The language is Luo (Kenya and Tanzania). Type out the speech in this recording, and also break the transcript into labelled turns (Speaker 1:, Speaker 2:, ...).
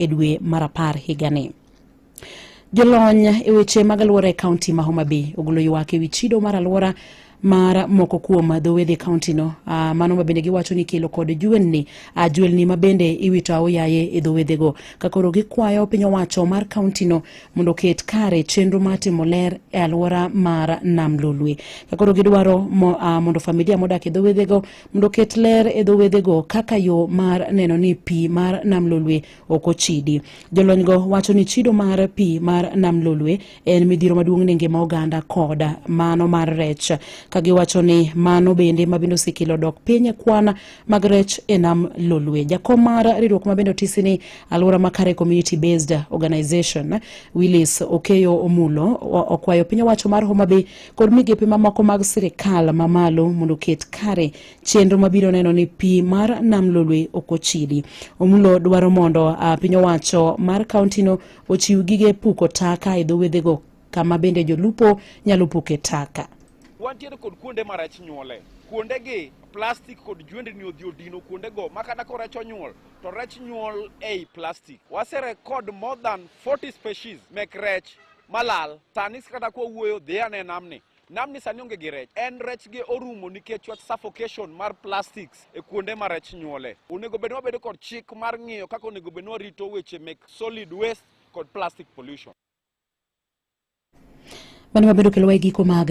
Speaker 1: e dwe mar apar higani. Jolony e weche mag alwora e kaunti ma Homa Bay ogolo ywak e wi chido mar alwora mar moko kuom dho wedhe kaunti no uh, mano ma bende giwacho ni kelo kod juelni uh, juelni ma bende iwito aoyaye e dho wedhe go ka koro gikwayo piny owacho mar kaunti no mondo oket kare chenro mar timo ler e alwora mar nam lolwe ka koro gidwaro mo, uh, mondo familia modak e dho wedhe go mondo oket ler e dho wedhego kaka yo mar neno ni pi mar nam lolwe ok ochidi. Jolonygo wacho ni chido mar pi mar nam lolwe en midhiro maduong' ne ngima oganda kod mano mar rech, ka giwacho ni mano bende ma bende osekelo dok piny e kwan mag rech e nam lolwe. Jakom mar riwruok ma bende otisi ni Alwora Makare Community Based Organization, Willis Okeyo Omulo, okwayo piny owacho mar Homa Bay kod migepe mamoko mag sirikal mamalo mondo oket kare chenro mabiro neno ni pi mar nam lolwe ok ochidi. Omulo dwaro mondo ah, piny owacho mar kauntino ochiw gige puko taka e dho wedhego kama bende jolupo nyalo puke taka. Wantiere kod
Speaker 2: kuonde ma rech nyuole. Kuondegi plastik kod jwendni odhi odino kuondego ma kata ka rech onyuol to rech nyuol ei plastik. Waserekod more than 40 species mek rech malal tani kata kwa wuoyo dhi ane namni namni sani onge gi rech en rech gi orumo nikech wach suffocation mar plastics e kuonde ma rech nyuole onego bed wabedo kod chik mar ng'iyo kaka onego bed ni warito weche mek solid waste kod plastic
Speaker 1: pollution mano wabedo
Speaker 2: kelowa e
Speaker 1: giko mag